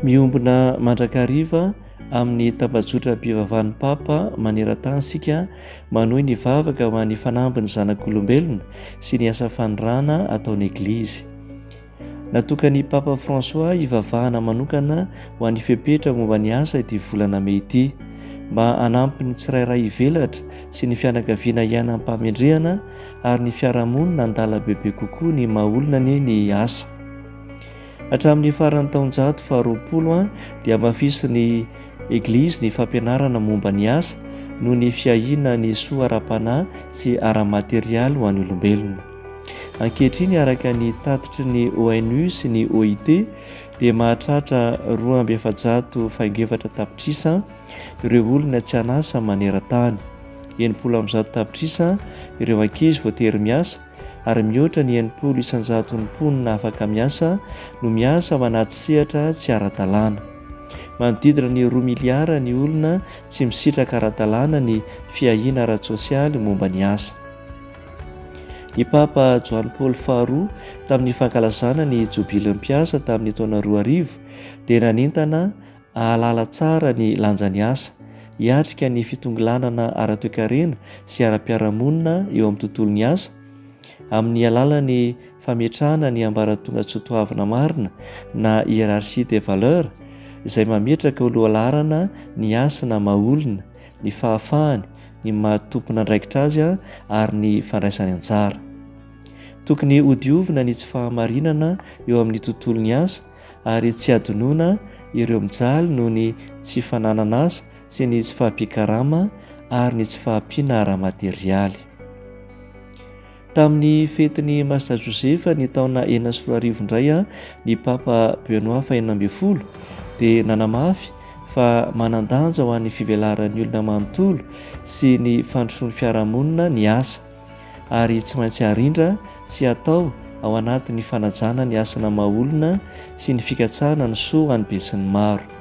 Miombona mandrakariva amin'ny tambajotram-pivavahan'ny Papa maneran-tany isika manohy ny vavaka ho an'ny fanambin'ny zanak'olombelona sy ny asa fanirana ataon'ny Eglizy. Natokan'i Papa François hivavahana manokana ho an'ny fepetra momba ny asa ity volana mey ity, mba hanampy ny tsirairay hivelatra sy ny fianakaviana hiaina am-pahamendrehana ary ny fiarahamonina handala bebe kokoa ny maha-olona ny ny asa. Hatramin'ny faran'ny taonjato faharoapolo an, dia hamafisin'ny Eglizy ny fampianarana momba ny asa noho ny fiahiana ny soa ara-panahy sy ara-materialy ho an'ny olombelona. Ankehitriny, araka ny tatitry ny ONU sy ny OIT, dia mahatratra roa amby efajato faingo efatra tapitrisa ireo olona tsy an'asa maneran-tany, enimpolo amby zato tapitrisa ireo ankizy voatery miasa, ary mihoatra ny enimpolo isanjaton'ny mponina afaka miasa no miasa ao anaty sehatra tsy ara-dalàna. Manodidina ny roa miliara ny olona tsy misitraka ara-dalàna ny fiahiana ara-tsosialy momba ny asa. Ny Papa Joany Paoly faharoa, tamin'ny fankalazana ny Jobilin'ny Mpiasa tamin'ny taona roa arivo, dia nanentana hahalala tsara ny lanjan'ny asa, hiatrika ny fitongilanana ara-toekarena sy ara-piarahamonina eo amin'ny tontolon'ny asa, amin'ny alalan'ny fametrahana ny ambaratongan-tsotoavina marina na hiérarchie des valeurs izay mametraka ho lohalaharana ny hasina maha-olona ny fahafahany, ny maha tompon'andraikitra azy ary ny fandraisany anjara. Tokony hodiovina ny tsy fahamarinana eo amin'ny tontolon'ny asa ary tsy hadinoina ireo mijaly noho ny tsy fananana asa sy ny tsy fahampian-karama ary ny tsy fahampiana ara-materialy. Tamin'ny fetin'i Masta Josefa ny taona enina sy roa arivo indray, ny Papa Benoît fahenina ambin'ny folo dia nanamafy fa manan-danja ho an'ny fivelaran'ny olona manontolo sy ny fandrosoan'ny fiarahamonina ny asa, ary tsy maintsy arindra sy atao ao anatin'ny fanajana ny asana maha-olona sy ny fikatsahana ny soa ho an'ny besinimaro.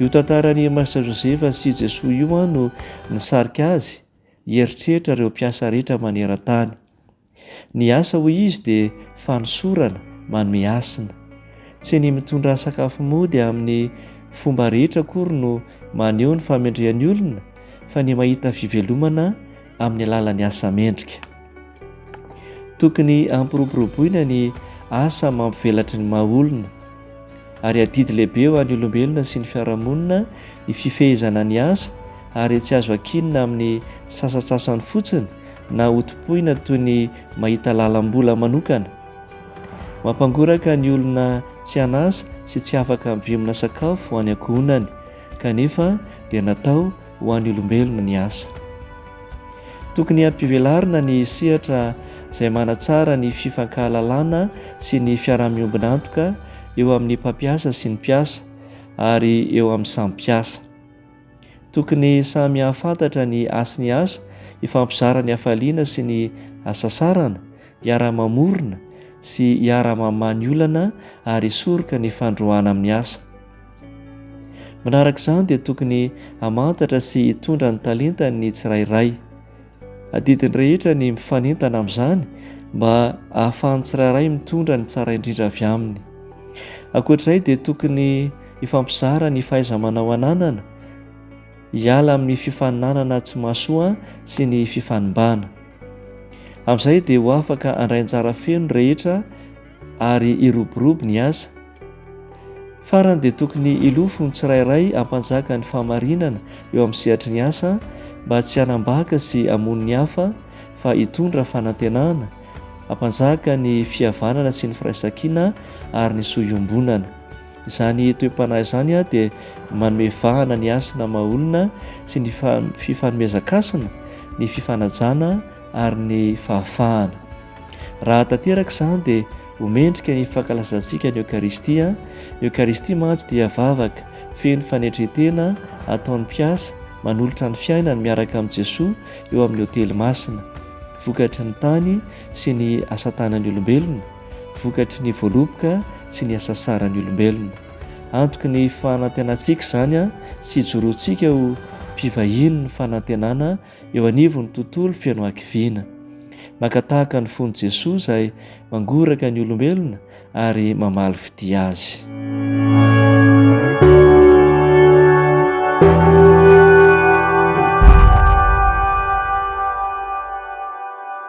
Io tantaran'i Master Josefa sy Jesoa io an no nisarika azy hieritreritra ireo mpiasa rehetra maneran-tany. Ny asa hoy izy dia fanosorana, manome hasina. Tsy ny mitondra sakafo mody amin'ny fomba rehetra akory no maneho ny famendrehan'ny olona fa ny mahita fivelomana amin'ny alalan'ny asa mendrika. Tokony hampiroboroboina ny asa mampivelatry ny maha olona, ary adidy lehibe ho an'ny olombelona sy ny fiarahamonina ny fifehezana ny asa ary tsy azo ankinina amin'ny sasatsasany fotsiny na hotompoina toy ny mahita lalam-bola manokana. Mampangoraka ny olona tsy an'asa sy tsy afaka mivimina sakafo ho any ankohonany kanefa dia natao ho an'ny olombelona ny asa. Tokony hampivelarina ny sehatra izay manatsara ny fifankahalalana sy ny fiaraha-miombon'antoka eo amin'ny mpampiasa sy ny mpiasa ary eo amin'ny samy mpiasa. Tokony samy hahafantatra ny hasy ny asa, hifampizara ny hafaliana sy ny hasasarana, hiara-mamorona sy hiara-mamaha ny olana ary hisoroka ny fandroahana amin'ny asa. Manaraka izany dia tokony hamantatra sy hitondra ny talentany ny tsirairay. Adidiny rehetra ny mifanentana amin'izany mba hahafahan'ny tsirairay mitondra ny tsara indrindra avy aminy. Ankoatr'izay dia tokony hifampizara ny fahaiza-manao ananana, hiala amin'ny fifaninanana tsy mahasoa sy ny fifanimbana. Amin'izay dia ho afaka handray anjara feno ny rehetra ary hiroborobo ny asa. Farany dia tokony hilofo ny tsirairay hampanjaka ny fahamarinana eo amin'ny sehatry ny asa mba tsy hanambaka sy hamono ny hafa fa hitondra fanantenana, hampanjaka ny fihavanana sy ny firaisankina ary ny soa iombonana. Izany toe-panahy izany dia manome vahana ny hasina maha-olona sy ny fifanomezan-kasina, ny fifanajana ary ny fahafahana. Raha tanteraka izany dia ho mendrika ny fankalazantsika ny Eokaristia, ny Eokaristia mantsy dia vavaka feno fanetren-tena ataon'ny mpiasa manolotra ny fiainany miaraka amin'i Jesoa eo amin'ny otely masina, vokatry ny tany sy ny asatanan'ny olombelona, vokatry ny voaloboka sy ny asasaran'ny olombelona. Antoky ny fanantenantsika izany sy ijoroantsika ho mpivahiny ny fanantenana eo anivon'ny tontolo feno hakiviana. Maka tahaka ny fon'i Jesoa izay mangoraka ny olombelona ary mamaly fitia azy.